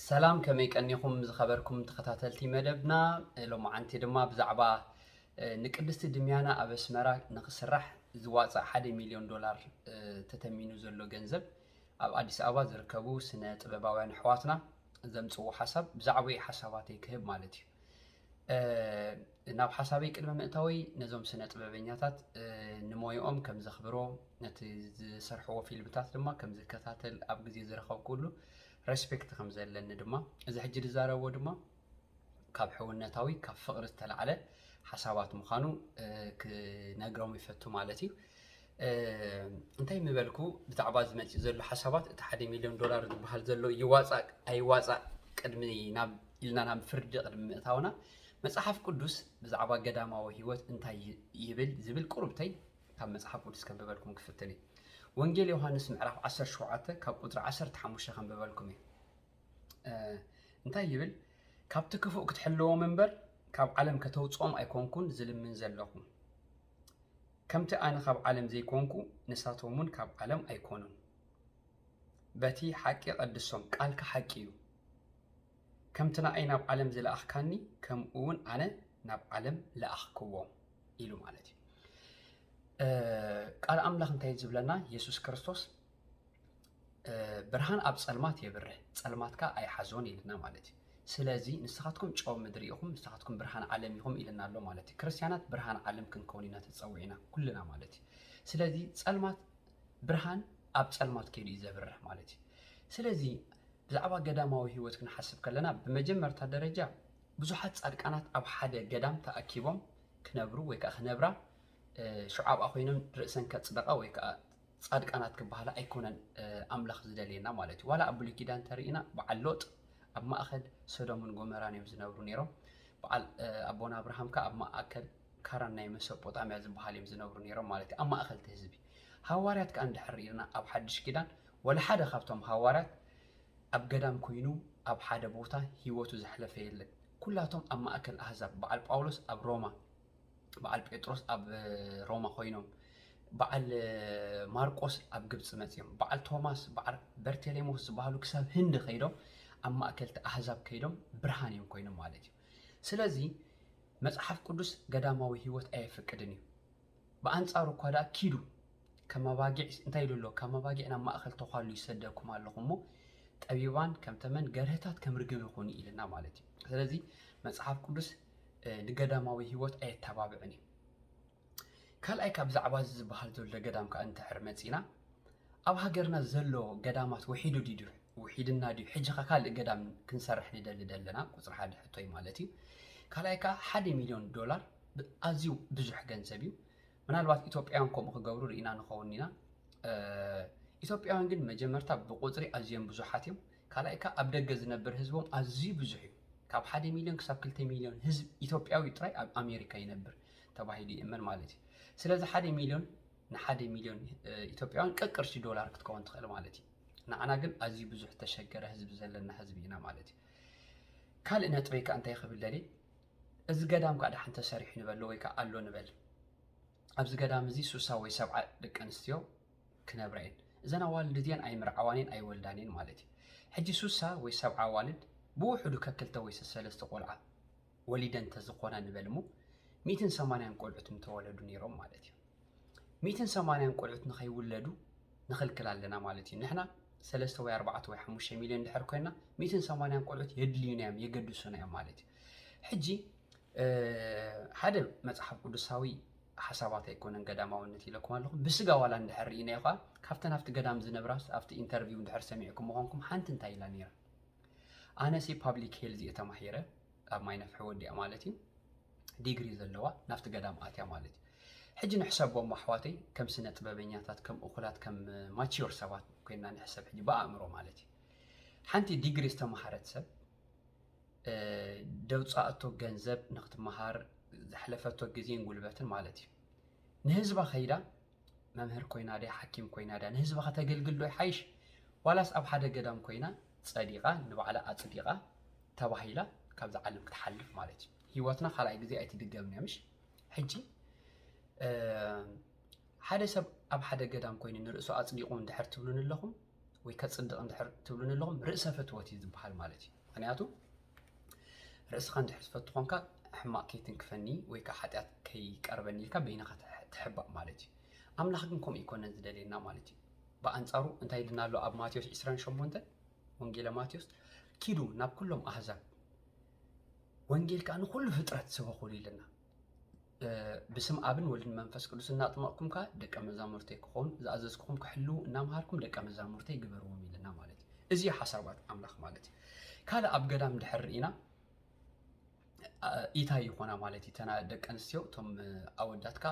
ሰላም ከመይ ቀኒኹም ዝኸበርኩም ተኸታተልቲ መደብና ሎማዓንቲ ድማ ብዛዕባ ንቅድስቲ ድምያና ኣብ ኣስመራ ንክስራሕ ዝዋፃእ ሓደ ሚልዮን ዶላር ተተሚኑ ዘሎ ገንዘብ ኣብ ኣዲስ ኣበባ ዝርከቡ ስነ ጥበባውያን ኣሕዋትና ዘምፅዎ ሓሳብ ብዛዕባ ሓሳባተይ ክህብ ማለት እዩ ናብ ሓሳበይ ቅድሚ ምእታወይ ነዞም ስነ ጥበበኛታት ንሞይኦም ከም ዘኽብሮ ነቲ ዝሰርሕዎ ፊልምታት ድማ ከም ዝከታተል ኣብ ግዜ ዝረኸብኩሉ ሬስፔክት ከም ዘለኒ ድማ እዚ ሕጂ ዝዛረቦ ድማ ካብ ሕውነታዊ ካብ ፍቕሪ ዝተላዕለ ሓሳባት ምዃኑ ክነግሮም ይፈቱ ማለት እዩ። እንታይ ምበልኩ ብዛዕባ እዚ መፂኡ ዘሎ ሓሳባት እቲ ሓደ ሚሊዮን ዶላር ዝበሃል ዘሎ ይዋፃእ ኣይዋፃእ ቅድሚ ናብ ኢልና ናብ ፍርዲ ቅድሚ ምእታውና መፅሓፍ ቅዱስ ብዛዕባ ገዳማዊ ህይወት እንታይ ይብል ዝብል ቁርብተይ ካብ መፅሓፍ ቅዱስ ከንብበልኩም ክፍትን እዩ ወንጌል ዮሃንስ ምዕራፍ 17 ካብ ቁፅሪ 15 ከንብበልኩም እዩ እንታይ ይብል ካብቲ ክፉእ ክትሕልዎም እምበር ካብ ዓለም ከተውፅኦም ኣይኮንኩን ዝልምን ዘለኹ ከምቲ ኣነ ካብ ዓለም ዘይኮንኩ ንሳቶምውን ካብ ዓለም ኣይኮኑን። በቲ ሓቂ ቀድሶም፣ ቃልካ ሓቂ እዩ። ከምቲ ንኣይ ናብ ዓለም ዝለኣኽካኒ ከምኡ እውን ኣነ ናብ ዓለም ለኣኽክዎም ኢሉ ማለት እዩ። ቃል ኣምላኽ እንታይ ዝብለና? የሱስ ክርስቶስ ብርሃን ኣብ ጸልማት የብርህ ጸልማት ከኣ ኣይሓዞን ኢልና ማለት እዩ። ስለዚ ንስኻትኩም ጨው ምድሪ ኢኹም፣ ንስኻትኩም ብርሃን ዓለም ኢኹም ኢልና ኣሎ ማለት እዩ። ክርስትያናት ብርሃን ዓለም ክንከውን ኢና ተጸዊዕና ኩልና ማለት እዩ። ስለዚ ጸልማት ብርሃን ኣብ ጸልማት ከይዱ እዩ ዘብርህ ማለት እዩ። ስለዚ ብዛዕባ ገዳማዊ ህይወት ክንሓስብ ከለና ብመጀመርታ ደረጃ ብዙሓት ጻድቃናት ኣብ ሓደ ገዳም ተኣኪቦም ክነብሩ ወይ ከዓ ክነብራ ሽዑ ኣብኣ ኮይኖም ርእሰን ከጽደቃ ወይ ከዓ ጻድቃናት ክበሃላ ኣይኮነን ኣምላኽ ዝደልየና ማለት እዩ። ዋላ ኣብ ብሉይ ኪዳን እንተርኢና በዓል ሎጥ ኣብ ማእከል ሶዶምን ጎመራን እዮም ዝነብሩ ነይሮም። በዓል ኣቦና ኣብርሃም ከ ኣብ ማእከል ካራን ናይ መሶጶጣምያ ዝበሃል እዮም ዝነብሩ ነይሮም ማለት እዩ ኣብ ማእከል እቲ ህዝቢ ሃዋርያት ከኣ እንድሕር ርኢና ኣብ ሓድሽ ኪዳን ወላ ሓደ ካብቶም ሃዋርያት ኣብ ገዳም ኮይኑ ኣብ ሓደ ቦታ ህይወቱ ዘሕለፈ የለን ኩላቶም ኣብ ማእከል ኣህዛብ በዓል ጳውሎስ ኣብ ሮማ በዓል ጴጥሮስ ኣብ ሮማ ኮይኖም በዓል ማርቆስ ኣብ ግብፂ መፅዮም በዓል ቶማስ በዓል በርቴሌሞስ ዝበሃሉ ክሳብ ህንዲ ከይዶም ኣብ ማእከልቲ ኣህዛብ ከይዶም ብርሃን እዮም ኮይኖም ማለት እዩ ስለዚ መፅሓፍ ቅዱስ ገዳማዊ ህይወት ኣየፍቅድን እዩ ብኣንፃሩ እኳ ደኣ ኪዱ ከም ኣባጊዕ እንታይ ኢሉ ኣሎ ከም ኣባጊዕ ናብ ማእኸል ተኳሉ ይሰደኩም ኣለኹ እሞ ጠቢባን ከም ተመን ገርህታት ከም ርግብ ይኹኑ ኢልና ማለት እዩ ስለዚ መፅሓፍ ቅዱስ ንገዳማዊ ህይወት ኣየተባብዕን እዩ። ካልኣይ ካብ ብዛዕባ እዚ ዝበሃል ዘሎ ገዳም ከዓ እንተሕር መፂና ኣብ ሃገርና ዘሎ ገዳማት ውሒዱ ድዩ ውሒድና ድዩ ሕጂኻ ካልእ ገዳም ክንሰርሕ ንደሊ ዘለና ቁፅሪ ሓደ ሕቶ እዩ ማለት እዩ። ካልኣይ ከዓ ሓደ ሚሊዮን ዶላር ኣዝዩ ብዙሕ ገንዘብ እዩ። ምናልባት ኢትዮጵያውያን ከምኡ ክገብሩ ርኢና ንኸውን ኢና። ኢትዮጵያውያን ግን መጀመርታ ብቁፅሪ ኣዝዮም ብዙሓት እዮም። ካልኣይ ከኣ ኣብ ደገ ዝነብር ህዝቦም ኣዝዩ ብዙሕ እዩ። ካብ ሓደ ሚልዮን ክሳብ ክልተ ሚልዮን ህዝብ ኢትዮጵያዊ ጥራይ ኣብ ኣሜሪካ ይነብር ተባሂሉ ይእመን ማለት እዩ። ስለዚ ሓደ ሚልዮን ንሓደ ሚልዮን ኢትዮጵያውያን ቀቅርሺ ዶላር ክትከውን ትኽእል ማለት እዩ። ንዓና ግን ኣዝዩ ብዙሕ ዝተሸገረ ህዝቢ ዘለና ህዝቢ ኢና ማለት እዩ። ካልእ ነጥበይ ከኣ እንታይ ክብል ደልየ እዚ ገዳም ከኣ ደሓን ተሰሪሑ ንበሎ ወይ ከኣ ኣሎ ንበል ኣብዚ ገዳም እዚ ሱሳ ወይ ሰብዓ ደቂ ኣንስትዮ ክነብራ እየን እዘን ኣዋልድ እዚኣን ኣይምርዓዋን እየን ኣይወልዳን እየን ማለት እዩ ሕጂ ሱሳ ወይ ሰብዓ ኣዋልድ ብውሕዱ ከክልተ ወይ ሰሰለስተ ቆልዓ ወሊደን ተዝኾና ንበል እሞ ሚእትን ሰማንያን ቆልዑት ምተወለዱ ነይሮም ማለት እዩ ሚእትን ሰማንያን ቆልዑት ንኸይውለዱ ንኽልክል ኣለና ማለት እዩ ንሕና ሰለስተ ወይ ኣርባዕተ ወይ ሓሙሽተ ሚልዮን ድሕር ኮይና ሚእትን ሰማንያን ቆልዑት የድልዩና እዮም የገድሱና እዮም ማለት እዩ ሕጂ ሓደ መፅሓፍ ቅዱሳዊ ሓሳባት ኣይኮነን ገዳማውነት ኢለኩም ኣለኹ ብስጋ ዋላ እንድሕር ርኢናዮ ከዓ ካብተን ኣብቲ ገዳም ዝነብራስ ኣብቲ ኢንተርቪው እንድሕር ሰሚዕኩሞ ኮንኩም ሓንቲ እንታይ ኢላ ነይራ ኣነሲ ፓብሊክ ሄልዝ እየ ተማሂረ ኣብ ማይ ነፍሒ ወዲኣ ማለት እዩ ዲግሪ ዘለዋ ናብቲ ገዳም ኣትያ ማለት እዩ ሕጂ ንሕሰቦም ኣሕዋተይ ከም ስነ ጥበበኛታት ከም እኹላት ከም ማችዮር ሰባት ኮይና ንሕሰብ ሕጂ ብኣእምሮ ማለት እዩ ሓንቲ ዲግሪ ዝተምሃረት ሰብ ደውፃእቶ ገንዘብ ንክትመሃር ዘሕለፈቶ ግዜን ጉልበትን ማለት እዩ ንህዝባ ከይዳ መምህር ኮይና ድያ ሓኪም ኮይና ድያ ንህዝባ ከተገልግል ዶ ይሓይሽ ዋላስ ኣብ ሓደ ገዳም ኮይና ፀዲቃ ንባዕላ ኣፅዲቃ ተባሂላ ካብዛ ዓለም ክትሓልፍ ማለት እዩ ሂወትና ካልኣይ ግዜ ኣይትድገምን እያ ምሽ ሕጂ ሓደ ሰብ ኣብ ሓደ ገዳም ኮይኑ ንርእሱ ኣፅዲቑ እንድሕር ትብሉን ኣለኹም ወይ ከጽድቕ እንድሕር ትብሉኒ ኣለኹም ርእሰ ፍትወት እዩ ዝበሃል ማለት እዩ ምክንያቱ ርእስኻ እንድሕር ትፈቱ ኮንካ ሕማቕ ከይትንክፈኒ ወይ ከዓ ሓጢኣት ከይቀርበኒ ኢልካ በይንኻ ትሕባእ ማለት እዩ ኣምላኽ ግን ከምኡ ይኮነን ዝደልየና ማለት እዩ ብኣንጻሩ እንታይ ኢልና ኣሎ ኣብ ማቴዎስ 28 ወንጌለ ማቴዎስ ኪዱ ናብ ኩሎም ኣህዛብ ወንጌል ከዓ ንኩሉ ፍጥረት ስበኹሉ ኢልና ብስም ኣብን ወልድን መንፈስ ቅዱስ እናጥመቕኩምካ ደቀ መዛሙርተይ ክኾኑ ዝኣዘዝኩኹም ክሕልዉ እናምሃርኩም ደቀ መዛሙርተይ ግበርዎም ኢለና ማለት እዩ እዚ ሓሳባት ኣምላኽ ማለት እዩ ካልእ ኣብ ገዳም ድሕር ኢና ኢታይ ይኾና ማለት እዩ ተና ደቂ ኣንስትዮ እቶም ኣወዳትካ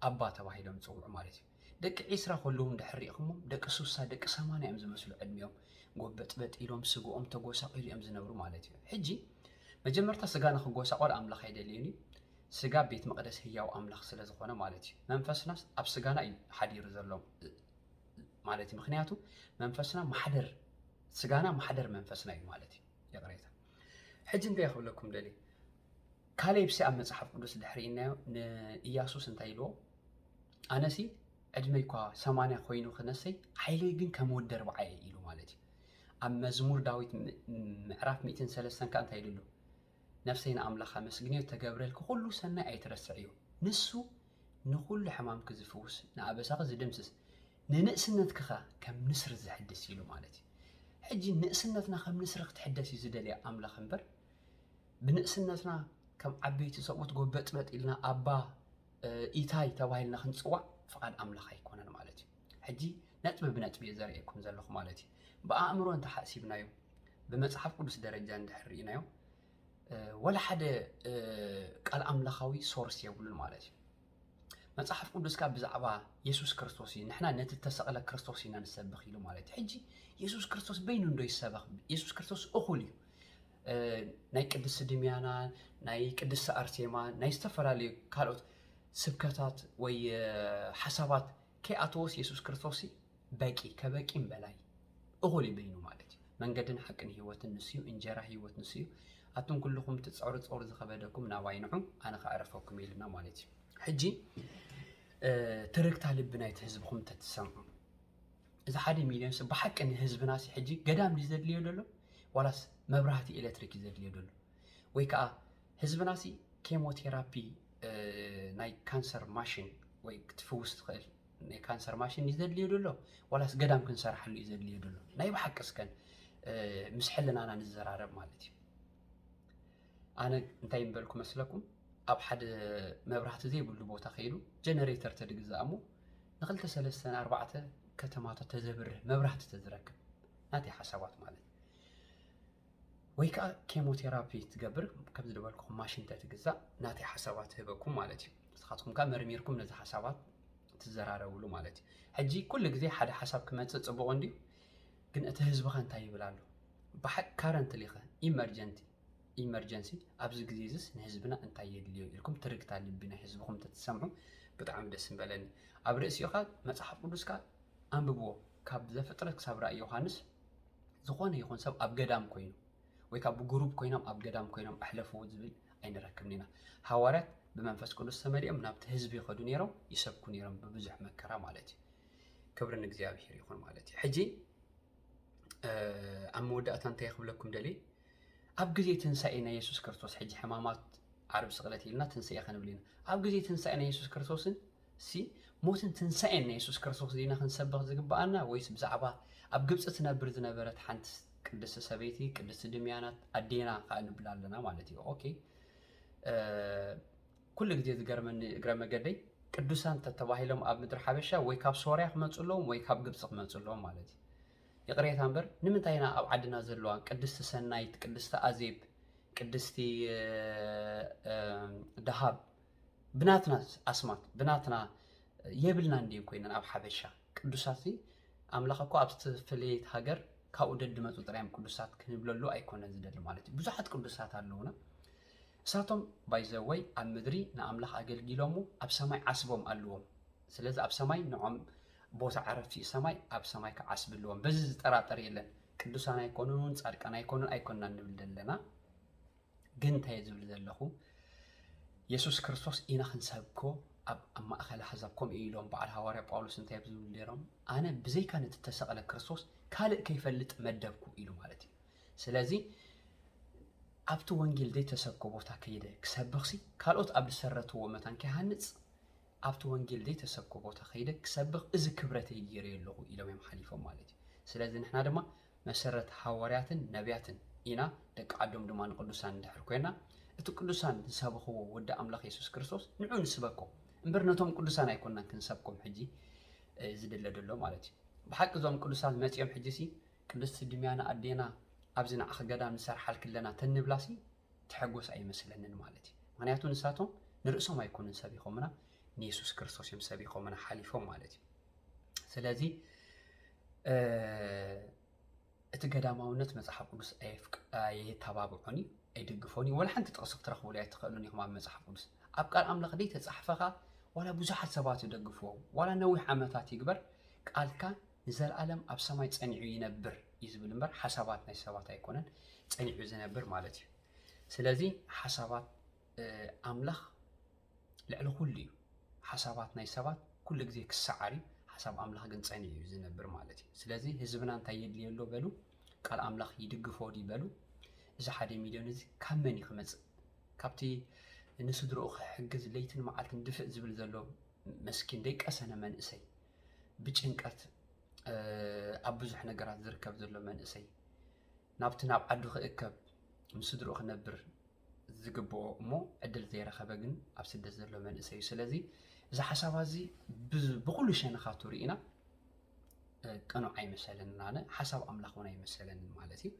ኣባ ተባሂሎም ዝፅውዑ ማለት እዩ ደቂ ዒስራ ከለዉ እንድሕር ሪኢኽሞም ደቂ ሱሳ ደቂ ሰማንያ እዮም ዝመስሉ ዕድሚኦም ጎበጥበጥ ኢሎም ስግኦም ተጎሳቂሉ እዮም ዝነብሩ ማለት እዩ ሕጂ መጀመርታ ስጋ ንክጎሳቆል ኣምላኽ ኣይደልዩን እዩ ስጋ ቤት መቅደስ ህያው ኣምላኽ ስለ ዝኾነ ማለት እዩ መንፈስናስ ኣብ ስጋና እዩ ሓዲሩ ዘሎ ማለት እዩ ምክንያቱ መንፈስና ማሕደር ስጋና ማሕደር መንፈስና እዩ ማለት እዩ ይቅሬታ ሕጂ እንታይ ክብለኩም ደሊ ካሌብሲ ኣብ መጽሓፍ ቅዱስ ድሕሪ ኢናዮ ንኢያሱስ እንታይ ኢልዎ ኣነሲ ዕድመይ እኳ ሰማንያ ኮይኑ ክነሰይ ሓይለይ ግን ከም ወዲ ኣርብዓ እየ ኢሉ ማለት እዩ ኣብ መዝሙር ዳዊት ምዕራፍ ሚእትን ሰለስተን ከዓ እንታይ ኢሉ ነፍሰይ ንኣምላኽ ኣመስግንዮ ተገብረልኪ ኩሉ ሰናይ ኣይትረስዕዮ ንሱ ንኩሉ ሕማምኪ ዝፍውስ ንኣበሳኺ ዝድምስስ ንንእስነትኪ ከ ከም ንስሪ ዝሕድስ ኢሉ ማለት እዩ ሕጂ ንእስነትና ከም ንስሪ ክትሕደስ እዩ ዝደልያ ኣምላኽ እምበር ብንእስነትና ከም ዓበይቲ ሰብኡት ጎበጥበጥ ኢልና ኣባ ኢታይ ተባሂልና ክንጽዋዕ ፍቓድ ኣምላኽ ኣይኮነን ማለት እዩ። ሕጂ ነጥቢ ብነጥቢ እየ ዘርእየኩም ዘለኹ ማለት እዩ። ብኣእምሮ እንተሓሲብናዮ ብመጽሓፍ ቅዱስ ደረጃ እንድሕር ርኢናዮ ወላ ሓደ ቃል ኣምላኻዊ ሶርስ የብሉን ማለት እዩ መጽሓፍ ቅዱስካ ብዛዕባ የሱስ ክርስቶስ እዩ ንሕና ነቲ እተሰቕለ ክርስቶስ ኢና ንሰብኽ ኢሉ ማለት እዩ ሕጂ የሱስ ክርስቶስ በይኑ እንዶ ይሰበኽ የሱስ ክርስቶስ እኹል እዩ ናይ ቅድስቲ ድምያና ናይ ቅድስቲ ኣርሴማ ናይ ዝተፈላለዩ ካልኦት ስብከታት ወይ ሓሳባት ከይኣተወስ የሱስ ክርስቶስ በቂ ከበቂም በላይ እኹል እዩ በይኑ ማለት እዩ መንገድን ሓቅን ህይወትን ንስዩ እንጀራ ህይወት ንስዩ ኣቱም ኩልኹም ትፀሩ ፀሩ ዝኸበደኩም ናባይ ንዑ ኣነ ከዕረፈኩም ኢልና ማለት እዩ ሕጂ ትርግታ ልቢ ናይቲ ህዝብኹም ተትሰምዑ እዚ ሓደ ሚልዮንስ ብሓቂ ንህዝብናሲ ሕጂ ገዳም ድዩ ዘድልዮ ዘሎ ዋላስ መብራህቲ ኤሌክትሪክ እዩ ዘድልዮ ዘሎ ወይ ከዓ ህዝብናሲ ኬሞቴራፒ ናይ ካንሰር ማሽን ወይ ክትፍውስ ትኽእል ናይ ካንሰር ማሽን እዩ ዘድልዮ ዘሎ ዋላስ ገዳም ክንሰርሓሉ እዩ ዘድልዮ ዘሎ ናይ ብሓቂ እስከን ምስ ሕልናና ንዘራረብ ማለት እዩ ኣነ እንታይ ምበልኩ መስለኩም ኣብ ሓደ መብራህቲ ዘይብሉ ቦታ ከይዱ ጀነሬተር ተድግዛእ እሞ ንክልተ ሰለስተን ኣርባዕተ ከተማታት ተዘብርህ መብራህቲ ተዝረክብ ናተይ ሓሳባት ማለት ወይ ከዓ ኬሞቴራፒ ትገብር ከምዚ ዝበልኩኹም ማሽን ተትግዛእ ናተይ ሓሳባት ህበኩም ማለት እዩ ንስኻትኩም ከዓ መርሚርኩም ነዚ ሓሳባት ትዘራረብሉ ማለት እዩ ሕጂ ኩሉ ግዜ ሓደ ሓሳብ ክመፅእ ፅቡቕ እንድዩ ግን እቲ ህዝቢኸ እንታይ ይብል ኣሎ? ብሓቂ ካረንትሊኸ፣ ኢመርጀንቲ፣ Emergency፣ ኣብዚ ግዜ'ዚስ ንህዝብና እንታይ የድልዮ ኢልኩም ትርግታ ልቢ ናይ ህዝብኹም እንተትሰምዑ ብጣዕሚ ደስ ምበለኒ። ኣብ ርእሲኡ ከኣ መጽሓፍ ቅዱስካ ኣንብብዎ፣ ካብ ዘፍጥረት ክሳብ ራእይ ዮሃንስ ዝኾነ ይኹን ሰብ ኣብ ገዳም ኮይኑ ወይ ካብ ብጉሩብ ኮይኖም ኣብ ገዳም ኮይኖም ኣሕለፍዎ ዝብል ኣይንረክብን ኢና። ሃዋርያት ብመንፈስ ቅዱስ ተመሊኦም ናብቲ ህዝቢ ይኸዱ ነይሮም፣ ይሰብኩ ነይሮም ብብዙሕ መከራ ማለት እዩ። ክብሪ ንእግዚኣብሔር ይኹን ማለት እዩ ሕጂ ኣብ መወዳእታ እንታይ ክብለኩም ደልየ ኣብ ግዜ ትንሳኤ ናይ የሱስ ክርስቶስ ሕጂ ሕማማት ዓርብ ስቕለት ኢልና ትንሳኤ ክንብል ኢና ኣብ ግዜ ትንሳኤ ናይ የሱስ ክርስቶስን ሲ ሞትን ትንሳኤን ናይ የሱስ ክርስቶስ ዜና ክንሰብኽ ዝግብኣና ወይስ ብዛዕባ ኣብ ግብፂ ትነብር ዝነበረት ሓንቲ ቅድስቲ ሰበይቲ ቅድስቲ ድምያናት ኣዴና ከዓ ንብል ኣለና ማለት እዩ ኦኬ ኩሉ ግዜ ዝገርመኒ እግረ መገደይ ቅዱሳን ተተባሂሎም ኣብ ምድሪ ሓበሻ ወይ ካብ ሶርያ ክመጹ ኣለዎም ወይ ካብ ግብጺ ክመጹ ኣለዎም ማለት እዩ። ይቕሬታ እምበር ንምንታይ ኢና ኣብ ዓድና ዘለዋ ቅድስቲ ሰናይት፣ ቅድስቲ ኣዜብ፣ ቅድስቲ ደሃብ ብናትና ኣስማት ብናትና የብልና እንዲን ኮይነን ኣብ ሓበሻ ቅዱሳት ሲ ኣምላኽ እኮ ኣብ ዝተፈለየት ሃገር ካብኡ ደድመፁ ጥራዮም ቅዱሳት ክንብለሉ ኣይኮነ ዝደሊ ማለት እዩ። ብዙሓት ቅዱሳት ኣለውና። ንሳቶም ባይ ዘ ወይ ኣብ ምድሪ ንኣምላኽ ኣገልጊሎሞ ኣብ ሰማይ ዓስቦም ኣልዎም ስለዚ ኣብ ሰማይ ንዖም ቦታ ዕረፍቲ እዩ ሰማይ ኣብ ሰማይ ከዓ ዓስቢ ኣለዎም በዚ ዝጠራጠር የለን ቅዱሳን ኣይኮኑን ጻድቃን ኣይኮኑን ኣይኮንና ንብል ዘለና ግን እንታይ ዝብል ዘለኹ የሱስ ክርስቶስ ኢና ክንሰብኮ ኣብ ማእኸል ኣሕዛብ ከምኡ ኢሎም በዓል ሃዋርያ ጳውሎስ እንታይ ብዝብሉ ነይሮም ኣነ ብዘይካ ነቲ ተሰቕለ ክርስቶስ ካልእ ከይፈልጥ መደብኩ ኢሉ ማለት እዩ ስለዚ ኣብቲ ወንጌል ዘይተሰብከ ቦታ ከይደ ክሰብኽሲ ካልኦት ኣብ ዝሰረትዎ መታን ከይሃንፅ ኣብቲ ወንጌል ዘይተሰብከ ቦታ ከይደ ክሰብኽ እዚ ክብረተይ ገይረዮ ኣለኹ ኢሎም እዮም ሓሊፎም ማለት እዩ ስለዚ ንሕና ድማ መሰረት ሃዋርያትን ነቢያትን ኢና ደቂ ዓዶም ድማ ንቅዱሳን እንድሕር ኮይና እቲ ቅዱሳን ዝሰበኽዎ ወዲ ኣምላኽ የሱስ ክርስቶስ ንዑ ንስበኮ እምበር ነቶም ቅዱሳን ኣይኮናን ክንሰብኮም ሕጂ ዝድለ ደሎ ማለት እዩ ብሓቂ እዞም ቅዱሳን መፂኦም ሕጂ ሲ ቅድስቲ ድምያና ኣዴና ኣብዚ ንዓኺ ገዳም ንሰርሓልኪ ኣለና ተንብላሲ ትሕጎስ ኣይመስለንን ማለት እዩ ምክንያቱ ንሳቶም ንርእሶም ኣይኮኑን ሰቢኾምና ንየሱስ ክርስቶስ እዮም ሰቢኾምና ሓሊፎም ማለት እዩ ስለዚ እቲ ገዳማውነት መጽሓፍ ቅዱስ ኣየተባብዖን እዩ ኣይድግፎን እዩ ወላ ሓንቲ ጥቕሲ ክትረኽብሉ ኣይትኽእሉን ኢኹም ኣብ መጽሓፍ ቅዱስ ኣብ ቃል ኣምላኽ ደይ ተጻሕፈኻ ዋላ ብዙሓት ሰባት ይደግፍዎ ዋላ ነዊሕ ዓመታት ይግበር ቃልካ ንዘልኣለም ኣብ ሰማይ ጸኒዑ ይነብር እዩ ዝብል እምበር ሓሳባት ናይ ሰባት ኣይኮነን ጸኒዑ ዝነብር ማለት እዩ። ስለዚ ሓሳባት ኣምላኽ ልዕሊ ኩሉ እዩ። ሓሳባት ናይ ሰባት ኩሉ ግዜ ክሰዓር እዩ። ሓሳብ ኣምላኽ ግን ጸኒዑ እዩ ዝነብር ማለት እዩ። ስለዚ ህዝብና እንታይ የድልዮ ኣሎ በሉ፣ ቃል ኣምላኽ ይድግፎ ድዩ በሉ። እዚ ሓደ ሚልዮን እዚ ካብ መን እዩ ክመጽእ? ካብቲ ንስድርኡ ክሕግዝ ለይትን መዓልትን ድፍእ ዝብል ዘሎ መስኪን ደይቀሰነ መንእሰይ ብጭንቀት ኣብ ብዙሕ ነገራት ዝርከብ ዘሎ መንእሰይ ናብቲ ናብ ዓዱ ክእከብ ምስ ስድርኡ ክነብር ዝግብኦ እሞ ዕድል ዘይረኸበ ግን ኣብ ስደት ዘሎ መንእሰይ እዩ ስለዚ እዚ ሓሳባ እዚ ብኩሉ ሸነኻቱ ርኢና ቅኑዕ ኣይመሰለንን ኣነ ሓሳብ ኣምላኽ እውን ኣይመሰለንን ማለት እዩ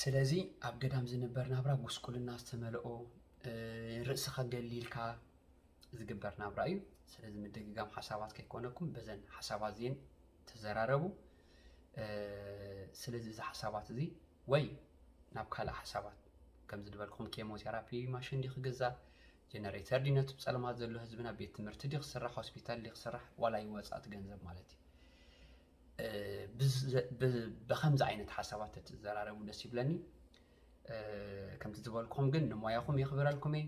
ስለዚ ኣብ ገዳም ዝንበር ናብራ ጉስቁልና ዝተመልኦ ርእስኻ ገሊልካ ዝግበር ናብራ እዩ። ስለዚ ምድግጋም ሓሳባት ከይኮነኩም በዘን ሓሳባት እዚን ተዘራረቡ። ስለዚ እዚ ሓሳባት እዚ ወይ ናብ ካልእ ሓሳባት ከምዚ ዝበልኩም ኬሞቴራፒ ማሽን ዲ ክግዛእ ጀነሬተር ዲ ነቲ ብፀለማት ዘሎ ህዝብና ቤት ትምህርቲ ዲ ክስራሕ ሆስፒታል ዲ ክስራሕ ዋላ ይወፃእቲ ገንዘብ ማለት እዩ ብከምዚ ዓይነት ሓሳባት ተትዘራረቡ ደስ ይብለኒ ከምቲ ዝበልኩም ግን ንሞያኹም የኽብረልኩም እየ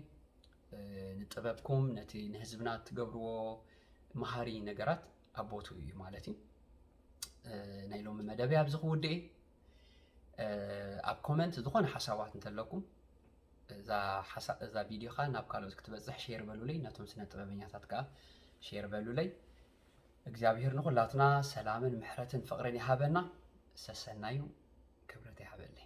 ንጥበብኩም ነቲ ንህዝብና እትገብርዎ መሃሪ ነገራት ኣብ ቦትኡ እዩ ማለት እዩ ናይ ሎሚ መደበይ ኣብዚ ክውድእ ኣብ ኮመንት ዝኾነ ሓሳባት እንተለኩም እዛ ቪድዮ ከዓ ናብ ካልኦት ክትበፅሕ ሼር በሉለይ ነቶም ስነ ጥበበኛታት ከዓ ሼር በሉለይ እግዚኣብሄር ንኩላትና ሰላምን ምሕረትን ፍቅርን ይሃበና ሰሰናዩ ክብረት ይሃበለይ